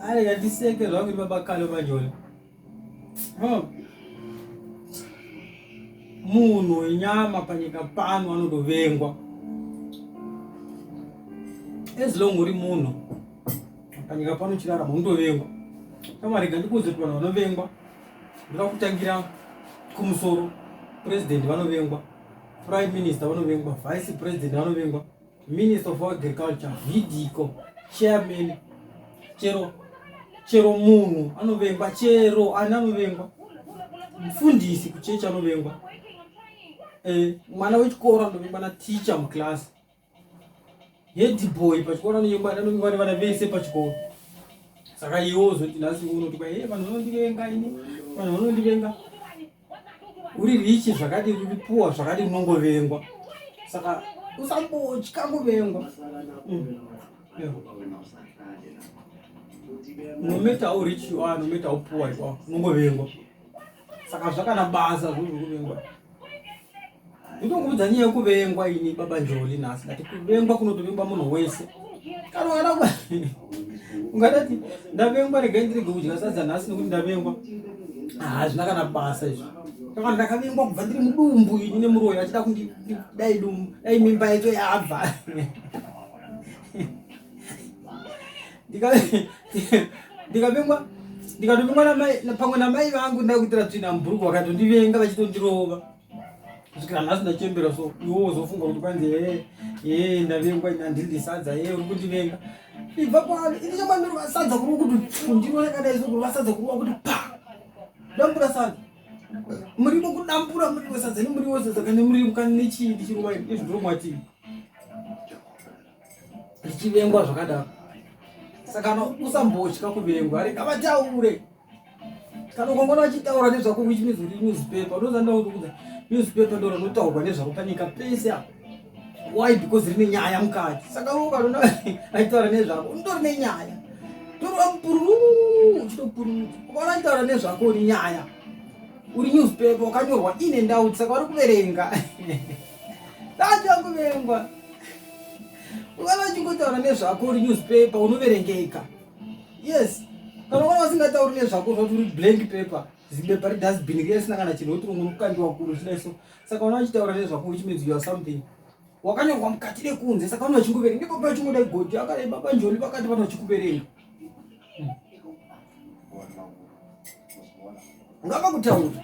Ari ngatiseke zvangu baba kalo manyoni. Oh. Munhu wenyama panyika pano anodovengwa. As long uri munhu panyika pano chirara munodovengwa. Kama rega ndikuudze kuti vanhu vanovengwa. Ndira kutangira kumusoro. President vanovengwa. Prime Minister vanovengwa. Vice President vanovengwa. minister of agriculture vidiko chairman chero chero munhu anovengwa chero ani anovengwa mufundisi kuchechi anovengwa eh, mwana wechikoro anovengwa naticha muclass hedboy pachikoro anovengwa anovengwa nevana vese pachikoro saka iwo zoti nhasi unoti kwa he vanhu vanondivenga ini vanhu vanondivenga uri richi zvakadii uri puwa zvakadii unongovengwa saka usambotya kuvengwa mm. no matter how rich you are no matter how poor you are unongovengwa saka zvakana basa zvozvokuvengwa Ndikukuudza nyaya yekuvengwa ini baba Njoli nhasi ndati kuvengwa kunotovengwa munhu wese kana ungada ungadati ndavengwa regai ndirege kudya sadza nhasi nekuti ndavengwa hazvina kana basa izvi kana ndakavengwa kubva ndiri mudumbu ini nemuroyi achida kundi dai dumbu dai mimba yacho yabva ndikavengwa ndikatovengwa pamwe namai vangu ndakuitira tsvina mubhuruku vakatondivenga vachitondirova kusvikira nhasi ndachembera so iwo wozofunga kuti kwanzi hee hee ndavengwa ini handidi sadza hee uri kundivenga ibva kwani ini chamandiri vasadza kuri kuti ndiro yakadai so kuri vasadza kuri wakuti pa dambura sadza muriwo kudambura muriwo sadza ne muriwo sadza kane muriwo kane nechii ndichiruwa ini izvi ndiro mwatii ndichivengwa zvakadaro saka usambotya kuvengwa ari kavataure kana ukangona vachitaura nezvako which means uri newspaper unoza ndakuudza newspaper ndoro rinotaurwa nezvako panyika pese apo why because rine nyaya mukati saka ukanona aitaura nezvako unotori nenyaya torova mupururu uchitopururuka ukaona achitaura nezvako uri nyaya uri newspaper wakanyorwa ine ndauti saka vari kuverenga dati vakuvengwa ukaona achingotaura nezvako uri newspaper unoverengeka yes kana vana vasingatauri nezvako zvati uri blank paper zibepa redustbin riya risina kana chinhu woti ungori kukandiwa kuru zvidai so saka vana vachitaura nezvako which means you are something wakanyorwa mukati nekunze saka vana vachikuverenga ndipo pa vachingoda goti akadai baba njoli vakati vana vachikuverenga ngava kutaura